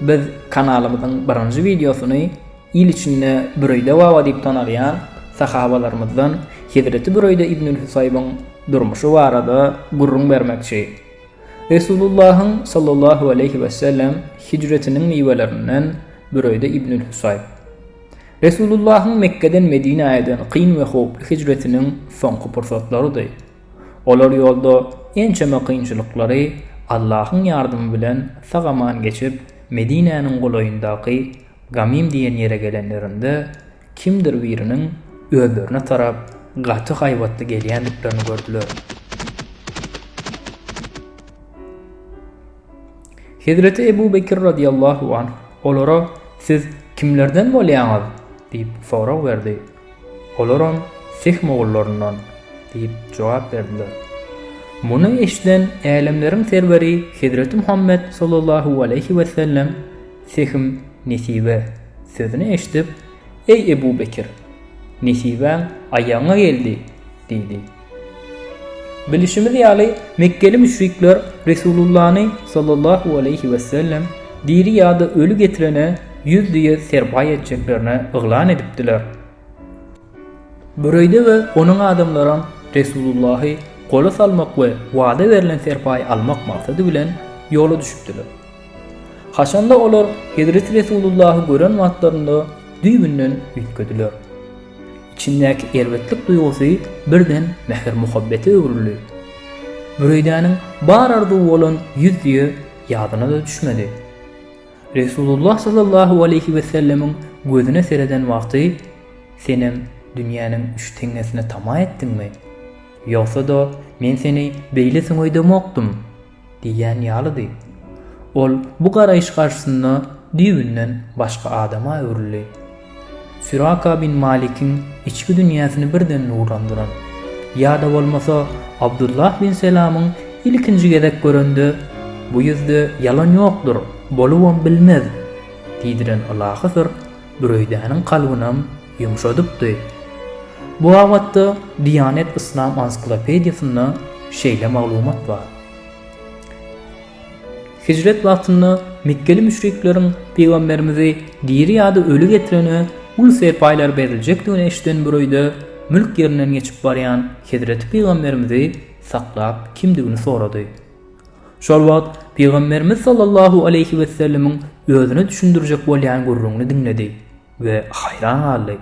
Biz kanalymyzyň birinji wideosyny il içinde Büreýde baba diýip tanalýan sahabalarymyzdan Hezreti Büreýde ibnül Husaýbyň durmuşy barada gürrüň bermekçi. Resulullahyň sallallahu aleýhi wesellem hijretiniň miwelerinden Büreýde ibnül Husaýb. Resulullahyň Mekgeden Medinä eden kyn we howply hijretiniň soňky pursatlarydy. Olar ýolda ençeme kynçylyklary Allahyň ýardamy bilen sag-aman geçip, Medinäniň golaýyndaky Gamym diýen ýere gelenlerinde, kimdir biriniň özlerine tarap gaty haýbatly gelýändiklerini gördüler. Hezreti Ebu Bekir radiyallahu anh olara Siz kimlerden bolýaňyz? diýip sorag berdi. Olaram Sih mogullaryndan, diýip jogap berdiler. Muny eşiden Älemleriň Serweri Hezreti Muhammet sallallahu aleýhi wesellem Sihim nesibe sözüni eşidip, Eý Ebu Bekir! Nesibäň aýagyňa geldi! diýdi. Bilişimiz ýaly, mekgeli müşrikler Resulullany sallallahu aleýhi wesellem diri ýa-da öli getirene ýüz düýe serpaý etjeklerini yglan edipdiler. Büreýde we onuň adamlaram Resulullahy gola salmak we wada berlen serpaýy almak maksady bilen ýola düşüpdiler. Haçanda olar hezreti Resulullahy gören wagtlarynda düýbünden üýtgediler. Içindäki erbetlik duýgusy birden mähir-muhabbete öwrüldi. Büreýdäniň bar arzuwy bolan ýüz düýe ýadyna-da düşmedi. Resulullah sallallahu aleýhi wesellemiň gözüne sereden wagty, Senem dünýäniň üç teňňesine tama etdiňmi? Ýogsa-da, men seni beýle süňeýdemokdym. Diýýän ýalydy. Ol bu garaýyş garşysynda düýbünden başga adama öwrüldi. Süraka bin Malikiň içki dünýäsini birden nurlandyran, ýa-da bolmasa Abdullah bin Selamyň ilkinji gezek görende, Bu ýüzde ýalan ýokdur, bolubam bilmez! diýdiren ylahy syr Büreýdäniň kalbynam Ýumşadypdy. Bu babatda Diýanet Yslam ansiklopediýasynda şeýle maglumat bar. Hijret wagtynda mekgeli müşrikleriň pygamberimizi diri ýa-da öli getirene uly serpaýlar beriljekdigini eşiden bir öýde mülk ýerinden geçip barýan hezreti pygamberimizi saklap kimdigini sorady. Şol wagt pygamberimiz sallallahu aleýhi wesellemiň özüne düşündirjek bolýan gürrüňini diňledi. we haýran galdy.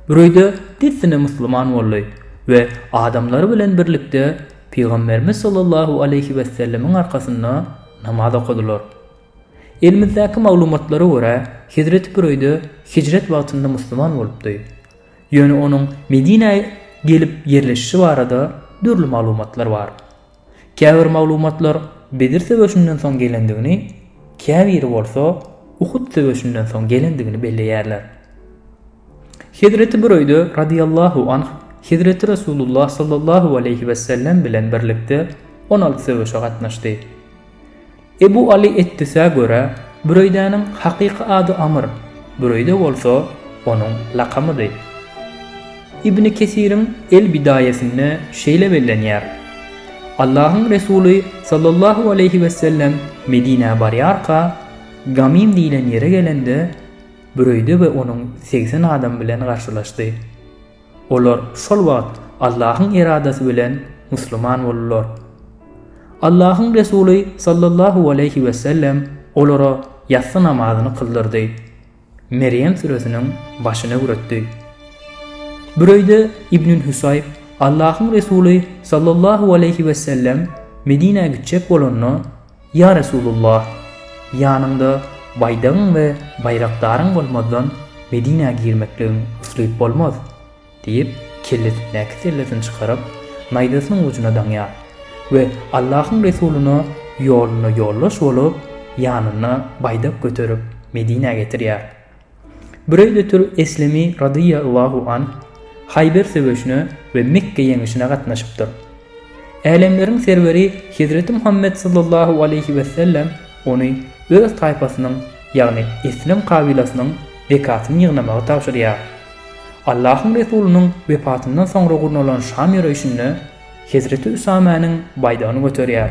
Büreýde dessine musulman boldy we adamlary bilen birlikde Pygamberimiz sallallahu aleýhi wessellemiň arkasynda namaz okadylar. Elimizdäki maglumatlara görä, hezreti Büreýde hijret wagtynda musulman bolupdy. Ýöne onuň Medinä gelip ýerleşişi barada dürli maglumatlar bar. Käbir maglumatlar Bedir söweşinden soň gelendigini, käbiri bolsa Uhud söweşinden soň gelendigini belleýärler. Hezreti Büreýde radyýallahu anh Hezreti Resulullah sallallahu aleýhi wesellem bilen birlikde on alty söweşe gatnaşdy. Ebu Aly Ettisä görä, Büreýdäniň hakyky ady Amr, Büreýde bolsa onuň lakamydy. Ibni Kesiriň El-Bidaýesinde şeýle bellenýär, Allahyň Resuly sallallahu aleýhi wesellem Medinä barýarka, Gamym diýlen ýere gelende, Büreýde we onuň segsen adam bilen garşylaşdy. Olar şol wagt Allahyň eradasy bilen musulman boldular. Allahyň Resuly sallallahu aleýhi wesellem olara ýassy namazyny kyldyrdy. Merýem süresiniň başyny öwretdi. Büreýde ibn Hüsaýb Allahyň Resuly sallallahu aleýhi wesellem Medinä gitjek bolanda Ýa Resulullah! Ýanyňda baýdagyň we baýrakdaryň bolmazdan Medinä girmekligiň üfleyip bolmaz! diýip, kellesindäki sellesini çykaryp, naýzasynyň ujuna daňýar we Allahyň Resulyna ýolunda ýoldaş bolup, ýanynda baýdak göterip Medinä getirýär. Büreýdetül Eslemi radýa Allahu anh Haýber söweşine we Mekge ýeňişine gatnaşypdyr. Älemleriň Serweri Hezreti Muhammet sallallahu aleýhi wesellem ony öz taýpasynyň, ýagny Eslem kabylasynyň zekatyny ýygnamagy tabşyrýar. Allahyň Resulynyň wefatyndan soňra gurnalan Şam ýöreýşinde Hezreti Üsamäniň baýdagyny göterýär.